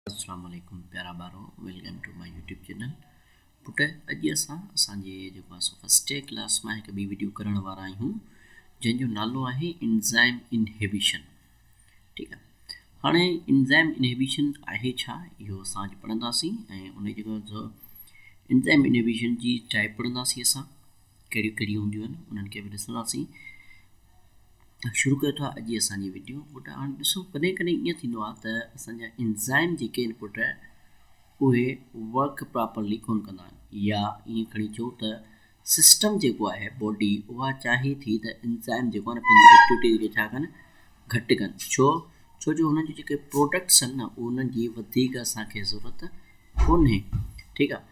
اسلام عليڪم پيارا ٻارو welcome to my YouTube channel پٽ اڄ اسان اسان جي جيڪو اسان فرسٽ ايئر ڪلاس مان هڪ ٻي ويڊيو ڪرڻ وارا آهيون جنهن جو نالو آهي انزائم انهيبيشن ٺيڪ آهي هاڻي انزائم انهيبيشن آهي ڇا اهو اسان اڄ پڙهنداسين ۽ ان جي انزائم انهيبيشن جي ٽائپ پڙهنداسين اسان ڪهڙيون ڪهڙيون هونديون آهن انهن کي به ڏسنداسين شروع ڪيو ٿا اڄ اسان جي ويڊيو انپٽ هاڻي ڏسو ڪڏهن ڪڏهن ايئن ٿيندو آهي ته اسان جا انزائم جيڪي انپٽ اهي ورڪ پراپرلي ڪون ڪندا آهن يا ايئن کڻي چئو ته سسٽم جيڪو آهي باڊي اها چاهي ٿي ته انزائم جيڪو آهي پنهنجي ايڪٽيوٽيز کي ڇا ڪن گهٽ ڪن ڇو ڇو جو هنن جي جيڪي پروڊڪٽس آهن نه انهن جي وڌيڪ اسان کي ضرورت ڪونهي ٺيڪ آهي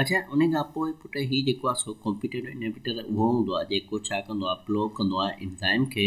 اڇا انهي کان پوء پٽ هي جيڪو آ سو ڪمپيٽيٽو انهبيٽر اهو هوندو آ جيڪو ڇا ڪندو آ بلاڪ ڪندو آ انزائم کي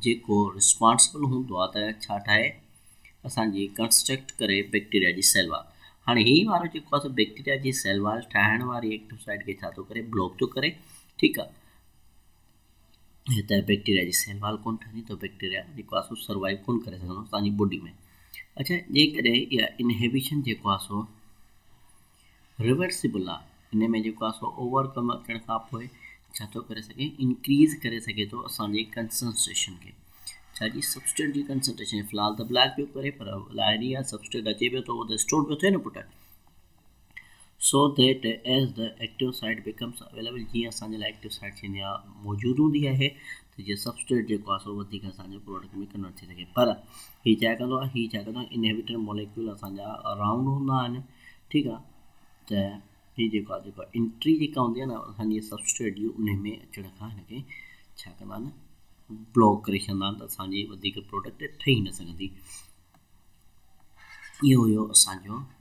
جيڪو رسپانسبل هوندو آ ته ڇا ٺاهي اسان جي ڪنسٽرڪٽ ڪري بيڪٽيريا جي سيل وال هاڻي هي وارو جيڪو آ سو بيڪٽيريا جي سيل وال ٺاهڻ واري ايڪٽو سائيٽ کي ڇا ٿو ڪري بلاڪ ٿو ڪري ٺيڪ آ هي ته بيڪٽيريا جي سنڀال ڪونه ٺهندي ته بيڪٽيريا جيڪو آهي سو سروائيو ڪونه ڪري سگهندو توهان جي بوڊي ۾ اڇا جيڪڏهن اها انهيبيشن جيڪو آهي سو ريورسيبل آهي ان ۾ جيڪو آهي سو اوور ڪم اچڻ کان پوء ڇا ٿو ڪري سگهي انڪريز ڪري سگهي ٿو اسان جي ڪنسنسٽريشن کي ڇا جي سبسٽيٽ جي ڪنسنسٽريشن في الحال ته بلاڪ پيو ڪري پر لاهري يا سبسٽيٽ اچي پيو ٿو ته اسٽور پيو ٿئي نه پٽ so that as the active site becomes available جيئن اسان جي لاء ايڪٽيو سائيٽ ٿيندي آهي موجود هوندي آهي ته جيئن سبسٽريٽ جيڪو آهي سو وڌيڪ اسان جي پروڊڪٽ ۾ ڪنورٽ ٿي سگهي پر هي ڇا ڪندو آهي هي ڇا ڪندو آهي انهيبيٽر موليڪيول اسان جا رائونڊ هوندا آهن ٺيڪ آهي ته هي جيڪو آهي جيڪو انٽري جيڪا هوندي آهي ن اسان جي سبسٽريٽ جي ان ۾ اچڻ کان هن کي ڇا ڪندا آهن بلاڪ ڪري ڇڏندا آهن ته اسان جي وڌيڪ پروڊڪٽ ٺهي نه سگهندي اهو هيو اسان جو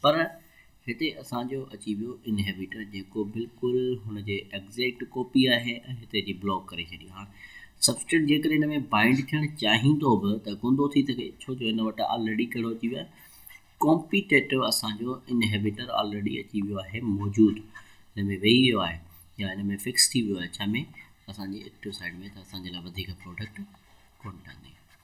پر هتي اسان جو اچي ويو انهيبيٽر جيڪو بلڪل هن جي ايگزيڪٽ ڪاپي آهي ۽ هتي جي بلاڪ ڪري ڇڏي. هاڻ سبسٽريٽ جيڪڏهن هن ۾ بائنڊ ٿيڻ چاهيندو به ته ڪوندو ٿي سگهي ڇو جو هن وٽ آلريڊي ڪهڙو اچي ويو آهي ڪامپيٽيٽو اسان جو انهيبيٽر آلريڊي اچي ويو آهي موجود هن ۾ ويهي ويو آهي يا هن ۾ فڪس ٿي ويو آهي ڇا ۾ اسان جي ايڪٽو سائيڊ ۾ ته اسان جي لاء وڌيڪ پراڊڪٽ ڪونه ٺهندي.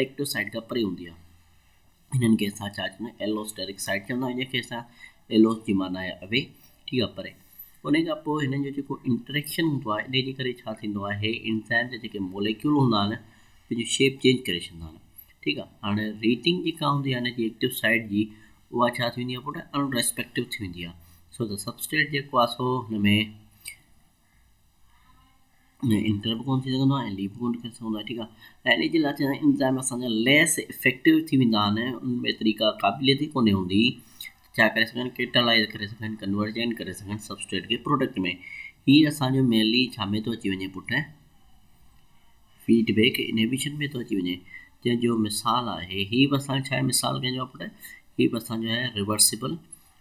ايڪٽو سائيٽ کان پري هوندي آهي. هنن کي اسان ڇا چوندا آهيون ايلو سٽيرڪ سائيٽ چوندا آهيون جنهن کي اسان ايلوس جي معنيٰ آهي اوي ٺيڪ آهي پري انهي کان پوء هنن جو جيڪو انٽريڪشن هوندو آهي انهي جي ڪري ڇا ٿيندو آهي هي انزائم جا جيڪي موليڪيول هوندا آهن پنهنجي شيپ چينج ڪري ڇڏيندا آهن ٺيڪ آهي هاڻي ريٽنگ جيڪا هوندي آهي هن جي ايڪٽو سائيٽ جي اها ڇا ٿي ويندي آهي پٽ ان ريسپيڪٽو ٿي ويندي آهي سو ته سبسٽريٽ جيڪو آهي سو هن ۾ ۾ انٽر به ڪونه ٿي سگهندو آهي ۽ ليپ به ڪونه ڪري سگهندو آهي ٺيڪ آهي ۽ ان جي لاء چيائين انزائم اسان جا ليس افيڪٽو ٿي ويندا آهن ان ۾ طريقا قابليت ئي ڪونه هوندي ڇا ڪري سگهن ڪيٽالائز ڪري سگهن ڪنورجن ڪري سگهن سبسٽريٽ کي پروڊڪٽ ۾ هي اسانجو مينلي ڇا ۾ ٿو اچي وڃي پٽ فيڊبيڪ انهبيشن ۾ ٿو اچي وڃي جنهن جو مثال آهي هي به اسان ڇا مثال ڪنهن جو پٽ هي به اسانجو آهي ريورسبل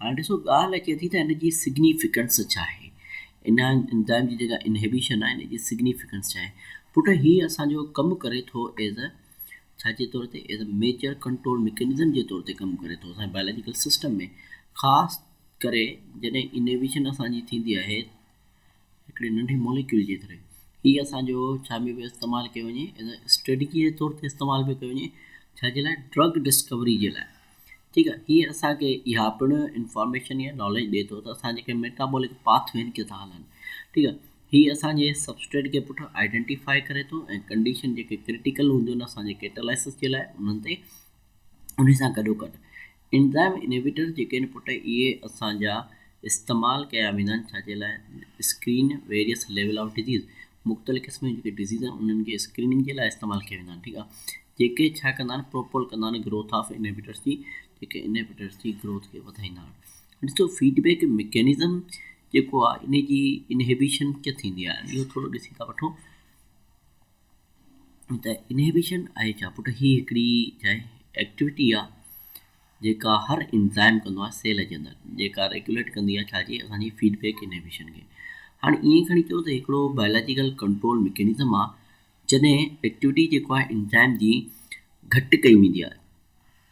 هاڻي ڏسو ڳالهه اچي ٿي ته ان جي سگنيفڪنس ڇا آهي؟ ان انزائم جي جيڪا انهيبيشن آهي ان جي سگنيفڪنس ڇا آهي؟ پٽ هي اسان جو ڪم ڪري ٿو ايز اي ڇا جي طور تي as a major control mechanism جي طور تي ڪم ڪري ٿو اسان جي بائلاجيڪل سسٽم ۾ خاص ڪري جڏهن انهيبيشن اسان جي ٿيندي آهي هڪڙي ننڍي موليڪيول جي ڪري هي اسان جو ڇا ۾ به استعمال ڪيو وڃي ايز اي اسٽريٽجي جي طور تي استعمال به ڪيو وڃي ڇا جي لاء ڊرگ ڊسڪوري جي لاء ٺيڪ آهي هي اسان کي اها پڻ انفارميشن يا ناليج ڏي ٿو ته اسان جيڪي ميٽابولڪ پاٿ وين کي ٿا هلن ٺيڪ آهي هي اسان جي سبسٽريٽ کي پٺ آئيڊينٽيفائي ڪري ٿو ۽ ڪنڊيشن جيڪي ڪرٽيڪل هونديون آهن اسان جي ڪيٽالائسس جي لاء انهن تي انهي سان گڏو گڏ انزائم انهبيٽرز جيڪي آهن پٽ اهي اسان جا استعمال ڪيا ويندا آهن ڇا جي لاء screen various level of disease مختلف قسم جون جيڪي ڊزيز آهن انهن کي اسڪريننگ جي لاء استعمال ڪيا ويندا آهن ٺيڪ آهي جيڪي ڇا ڪندا آهن پروپول ڪندا آهن گروٿ آف انهبيٽرز جي جيڪي انهبيٽرز جي گروٿ کي وڌائيندا آهن ڏسو فيڊبيڪ ميڪينزم جيڪو آهي ان جي انهبيشن ڪيئن ٿيندي آهي اهو ٿورو ڏسي ٿا وٺو ته انهيبيشن آهي ڇا؟ پٽ هي هڪڙي جاء ايڪٽيوٽي آ جيڪا هر انزائم ڪندو آهي سيل جي اندر جيڪا ريگوليٽ ڪندي آهي ڇا جي اسان جي فيڊ بيڪ انهيبيشن کي هاڻي ائين کڻي چئون ته هڪڙو بائلاجيڪل ڪنٽرول ميڪنزم آ جڏهن ايڪٽيوٽي جيڪو آهي انزائم جي گهٽ ڪئي ويندي آهي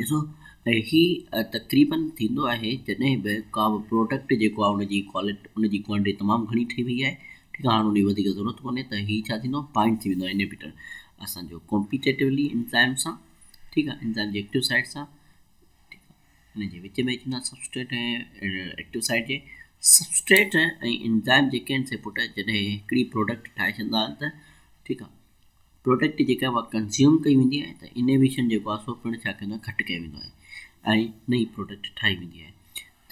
ڏسو ته هي تقريبن ٿيندو آهي جڏهن به ڪا به پروڊڪٽ جيڪو آهي ان جي ڪوالٽي ان جي ڪوانٽٽي تمام گهڻي ٺهي وئي آهي ٺيڪ آهي هاڻ ان جي وڌيڪ ضرورت ڪونهي ته هي ڇا ٿيندو پوائنٽ ٿي ويندو آهي انهبٽر اسانجو ڪمپيٽيٽولي انزائم سان ٺيڪ آهي انزائم جي ايڪٽو سائيٽ سان ٺيڪ آهي ان جي وچ ۾ اچي ويندا سبسٽريٽ ۽ ايڪٽو سائيٽ جي سبسٽريٽ ۽ انزائم جيڪي آهن سي پٽ جڏهن هڪڙي پروڊڪٽ ٺاهي ڇڏندا آهن ته ٺيڪ آهي پروڊڪٽ جيڪا اها ڪنزيوم ڪئي ويندي آهي ته انويشن جيڪو آهي سو پڻ ڇا ڪندو آهي گهٽ ڪيو ويندو آهي ۽ نئين پروڊڪٽ ٺاهي ويندي آهي.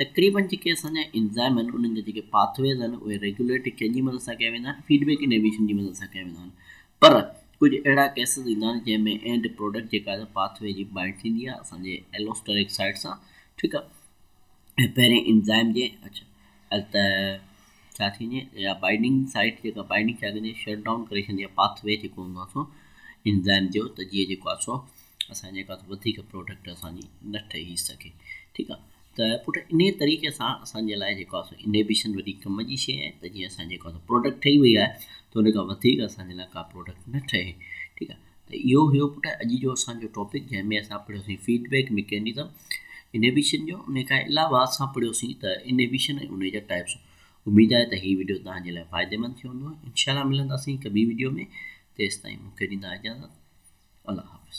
تقريبن جيڪي اسان جا انزائم آهن انهن جا جيڪي پاٿ ويز آهن اهي ريگوليٽ ڪنهن جي مدد سان ڪيا ويندا آهن فيڊ بيڪ انويشن جي مدد سان ڪيا ويندا آهن پر ڪجهه اهڙا ڪيسز ايندا آهن جنهن ۾ اينڊ پروڊڪٽ جيڪا آهي پاٿ وي جي بائنڊ ٿيندي آهي اسان جي ايلوسٽريڪ سائيٽ سان ٺيڪ آهي ۽ پهرين انزائم جي اچ ته ڇا ٿيندي آهي اها بائنڊنگ سائيٽ جيڪا بائنڊنگ ڇا ڪندي آهي شٽ ڊائون ڪري ڇڏندي آهي پاٿ وي جيڪو هوندو آهي سو انزائم جو ته جيئن جيڪو آهي سو اسان جيڪا وڌيڪ پروڊڪٽ اسان جي نه ٺهي سگهي ٺيڪ آهي ته پٽ ان طريقي سان اسان جي لاء جيڪو آهي انهبيشن وڏي ڪم جي شيء آهي ته جيئن اسان جيڪو آهي پروڊڪٽ ٺهي وئي آهي ته ان کان وڌيڪ اسان جي لاء ڪا پروڊڪٽ نه ٺهي ٺيڪ آهي ته اهو هيو پٽ اڄ جو اسان جو ٽاپڪ جنهن ۾ اسان پڙهيو سين فيڊ بيڪ مڪينزم انهبيشن جو ان کان علاوه اسان پڙهيو سين ته انهبيشن ۽ ان جا ٽائپس اميد آهي ته هي ويڊيو تهان جي لاء فائدي مند ٿيو هوندو انشاء الله ملنداسين هڪ ٻي ويڊيو ۾ تيستائين مونکي ڏيندا اجازت الله حافظ